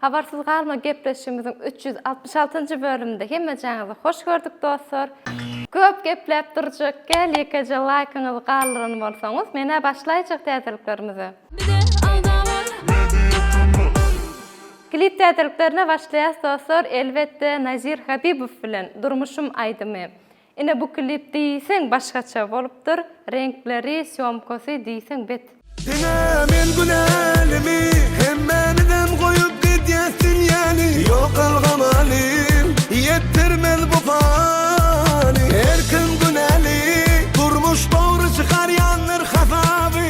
Habarsyz galma gepleşigimiziň üç ýüz altmyş altynjy bölüminde hemmejaňyzy hoş gördük dostlar. Köp gepläp durjak gel ýekeje laýkyňyzy galdyran bolsaňyz menä başlaýjak täzeliklerimize. Bize alda bar media tuma. Klip täzeliklerine başlaýas dostlar elbetde Nazir Habibow bilen Durmuşym aýdymy. Ine bu klip diýseň başgaça bolupdyr, reňkleri, sýomkasy diýseň bet. Ine men günälimi hemmäniňem goýup gidýäsdim ýaly Ýok algamalyň ýetdirmez bu haly Her kim günäli durmuş dogry çykarýandyr hasaby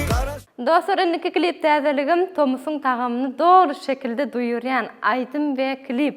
Dostlar indiki klip täzeligim tomusyň tagamyny doly şekilde duýurýan aýdym we klip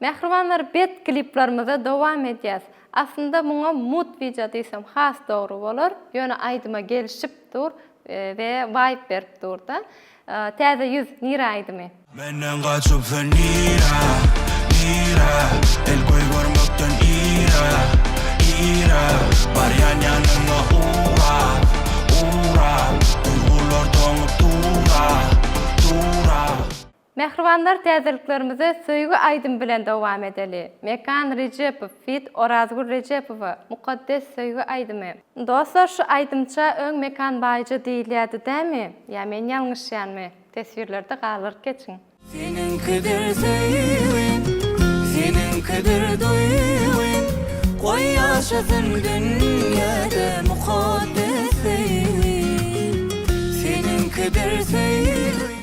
Mähribanlar bet kliplarymyza dowam edýäs. Aslynda muňa mut wideo diýsem has dogry bolar, ýöne aýdyma gelişip dur we waýp berip durda. Täze ýüz nire aýdymy. Menden gaçyp sen nira, nira, El göý görmekden ira, ira, Barýan ýanyňa ura, ura, Duýgular doňup dura, dura. Mähribanlar täzeliklerimize söýgi aýdym bilen dowam edeli. Mekan Rejepow feat Orazgül Rejepowa Mukaddes söýgi aýdymy. Dostlar şu aýdymça öň Mekan Baýja diýilýädi dämi? Ýa men ýalňyşýanmy? Teswirlerde galdyryp geçiň. Seniňkidir söýgim, seniňkidir duýgym, Goý ýaşasyn dünýäde mukaddes söýgim, Seniňkidir söýgim.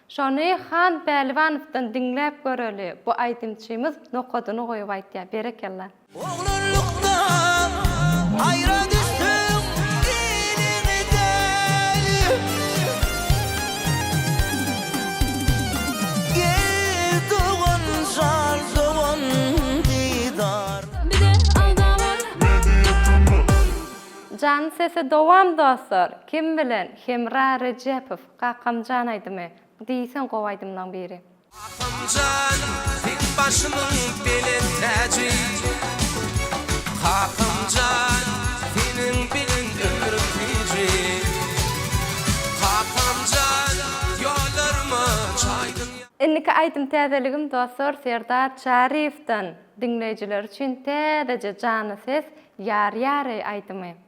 Şony Han Päliwanowdan diňläp göreli bu aýdymçymyz nokadyny goýup aýtýa berekella. Oglanlykdan aýra düşdüm iliňden Gel dogan jan dogan didar. Bize alda bar. Janyň sesi dowam dostlar. Kim bilen? Hemra Rejepow. Kakam jan aýdymy diýseň gowy aýdymlaň biri. Kakam jan seň başynyň belent täji Kakam jan seniň bilen ömrüm tiji Kakam jan ýollaryma çaýdyň ýa. Indiki aýdym täzeligim dostlar Serdar Çaryýewden diňleýjiler üçin täzeje jany ses Ýar ýareý aýdymy.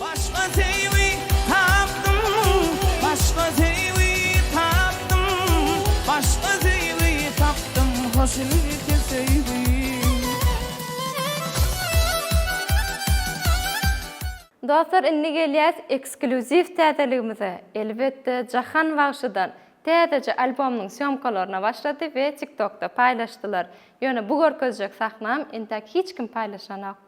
Başga söýgi tapdym, başga söýgi tapdym, başga söýgi tapdym, hoşniýetli söýgi. Dostlar indi gelýäs eksklýuziw täzeligimize, elbetde Jahan bagşydan täzeje albomynyň sýomkalaryna başlady we tiktokda paýlaşdylar, ýöne bu görkezjek sahnam intäk hiç kim paýlaşanok.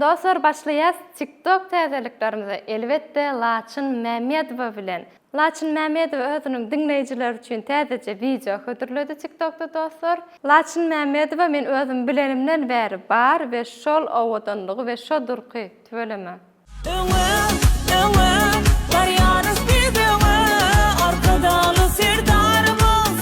Dostlar başlaýas tik tok täzeliklerimize elbetde Laçyn Mämmedowa bilen. Laçyn Mämmedowa özüniň diňleýjileri üçin täzeje wideo hödürledi tik tokda dostlar. Laçyn Mämmedowa men özüm bilenimden bäri bar we şol owadanlygy we şo durky tüweleme. Öňe öňe barýarys biz öňe Arkadagly Serdarymyz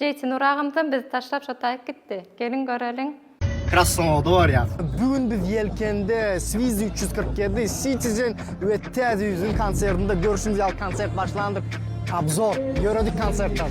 Jeýti Nur agamyzam bizi taşlap şo taýyk gitdi. Geliň göreliň. Krasnowodda barýas. Bu gün biz Ýelkende, Swiss üç ýüz kyrk ýedi, Citizen we Täze ýüzüň konsertinde görşümiz ýaly konsert başlandyk. Obzor, ýöredik konsertden.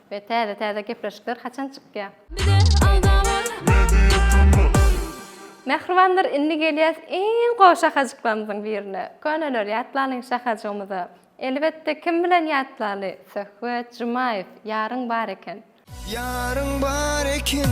We täze täze gepleşikler haçan çykýa. Bize alda bar. Media tmx. Mähribanlar indi gelýäs iň gowy şahajyklarymyzyň birine. Köneleri ýatlalyň şahajygymyza. Elbetde kim bilen ýatlaly. Söhbet Jumaýew. Ýaryň bar eken. Ýaryň bar eken.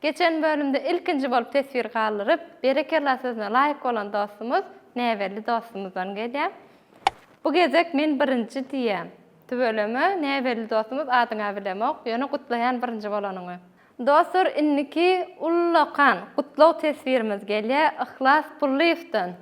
Geçen bölümde ilkinji bolup teswir galdyryp berekella sözüne laýyk bolan dostumyz Näbelli dostumyzdan gelýär. Bu gezek men birinji diýýän. Tüweleme Näbelli dostumyz adyňa bilemok, ýöne gutlaýan birinji bolanyňy. Dostlar indiki ullakan gutlag teswirimiz gelýär Yhlas Pullyýewden.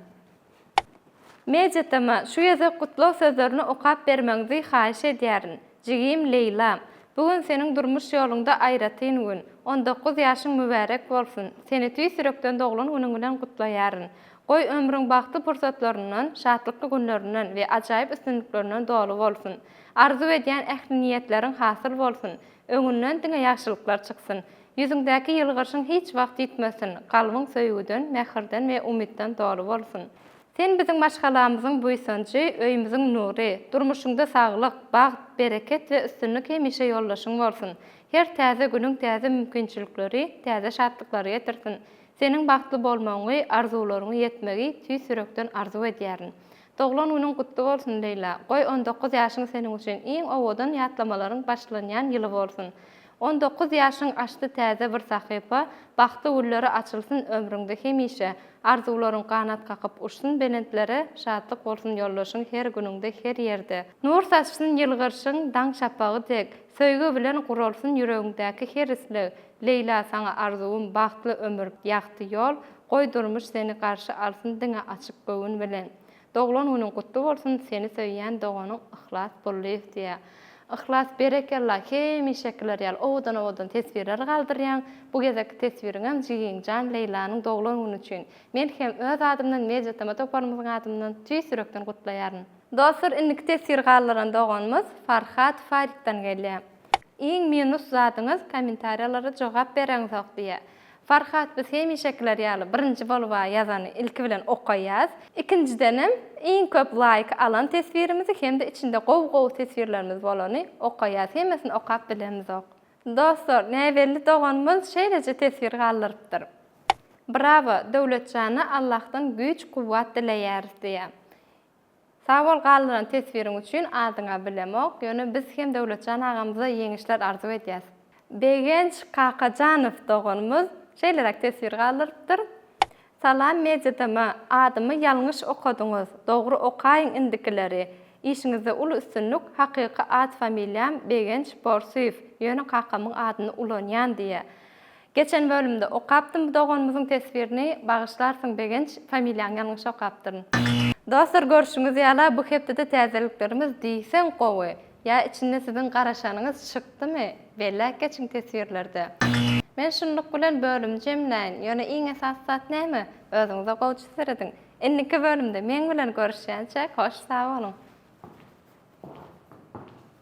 Mejitama şu gezek gutlag sözlerini okap bermegiňzi haýyş edýärin. Jigim Leýla, bu gün seniň durmuş ýoluňda aýratyn gün. On dokuz ýaşyň mübärek bolsun. Seni tüýs ýürekden doglan günüň bilen gutlaýaryn. Goý, ömrüň bagtly pursatlaryndan, şatlykly günlerinden we ajaýyp üstünliklerinden doly bolsun. Arzuw edýän ähli niýetleriň hasyl bolsun. Öňünden diňe ýagşylyklar çyksyn. Ýüzüňdäki ýylgyryşyň hiç wagt ýitmesin, kalbyň söýgüden, mähirden we umytdan doly bolsun. Sen biziň maşgalamyzyň buýsanjy, öýümiziň nury. Durmuşyňda saglyk, bagt, bereket we üstünlik hemişe ýoldaşyň bolsun. Her täze günüň täze mümkinçilikleri, täze şatlyklary getirsin. Seniň bagtly bolmagyňy, arzuwlaryňy ýetmegi tüýs ýürekden arzuw edýärin. Doglan günüň gutly bolsun Leýla! Goý on dokuz ýaşyň seniň üçin iň owadan ýatlamalaryň başlanýan ýyly bolsun! On dokuz ýaşyň açdy täze bir sahypa, bagtly gülleri açylsyn ömrüňde hemişe, arzuwlaryň ganat kakyp uçsun belentlere, şatlyk bolsun ýoldaşyň her günüňde her ýerde, nur saçsyn ýylgyrşyň daň şapagy dek, söýgi bilen guralsyn ýüregiňdäki her isleg, Leýla saňa arzuwym bagtly ömür ýagty ýol goý durmuş seni garşy alsyn diňe açyk göwün bilen Doglan günüň gutly bolsun seni söýýän doganyň Yhlas Gullyýew diýä. Yhlas berekella hemişekiler ýaly owadan owadan teswirler galdyrýaň bu gezekki teswiriňem jigiňjan Leýlanyň doglan güni üçin men hem öz adymdan Media Tama toparymyzyň adymdan tüýs ýürekden gutlaýaryn. Dostlar indiki teswir galdyran doganymyz Farhat Faritdan gelýä. Iň minus zadyňyz kommentariýalara jogap bereňzok diýä. Farhat biz hemişekiler ýaly birinji boluba ýazany ilki bilen okaýas. Ikinjidenem iň köp laýk alan teswirimizi hem-de içinde gowy gowy teswirlerimiz bolany okaýas. Hemmesini okap bilemzok. Dostlar näbelli doganymyz şeýleje teswir galdyrypdyr. Brawo Döwletjana Allahdan güýç kuwwat dileýäris diýä. Sag bol galdyran teswiriň üçin adyňa bilemok ýöne biz hem Döwletjan agamyza ýeňişler arzuw edýäs. Begenç Kakajanow doganymyz şeýleräk teswir galdyrypdyr, Salam MediaDM adymy ýalňyş okadyňyz dogry okaýyň indikileri işiňizde uly üstünlik hakyky at familiýam Begenç Borsuýew ýöne kakamyň adyny ulanýan diýe Geçen bölümde okapdym bu doganymyzyň teswirini bagyşlarsyň Begenç familiýaňy ýalňyş okapdyryn. Dostlar görşüňiz ýala bu hepdede täzeliklerimiz diýseň gowy ýa içinde siziň garaşanyňyz çykdymy belläp geçiň teswirlerde. Men şunluk bilen bölümi jemläýin ýöne iň esasy zat näme özüňize gowça serediň. Indiki bölümde meň bilen görüşýänçäk hoş sag boluň.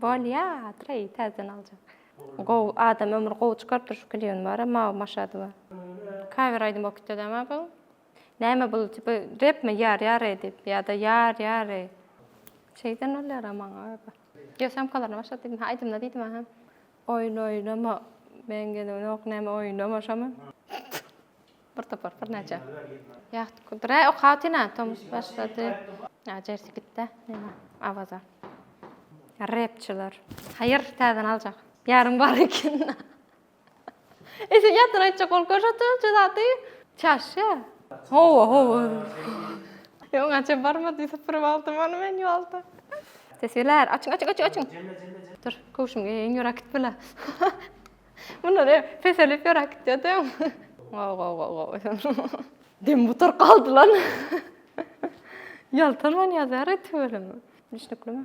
Bolýa Treý täzeden aljak. Gowy adam ömri gowy çykarypdyr şu klibiň bary Mawy Maşadowa. Kawer aýdym bolup gitýä däme bu. Näme bul tipi repmi ýar ýar eý diýip ýa-da ýar ýar eý. Şeýden bolýara maňa öýdip. Ýo samkalaryna başlady diýdim ha aýdymda diýdim aha. Oýun oýnama meň gelemok näme oýnama şomy. Bir topar, bir näçe. Ýahty kudur. Hä, okap otyryn, tomus başlady. Hä, jersi gitdi, näme, Awaza. Repçiler. Haýyr, täzeden aljak. Ýarym bar eken. Ese ýatdan aýtjak bolup görşatdy şu zady. Çaşýa. Hawa, hawa. Ýa oňa çen barmady, süpürip aldym ony men ýolda. Teswirler, açyň, açyň, açyň, açyň. Dur, köwşümi geýeýin, ýör äkitme-le. Bunlar hem peselip ýöräp gitýär däm. Gow gow gow gow. Dem butar galdy lan. Ýaltan man ýazar et bölüm. Düşnükli mi?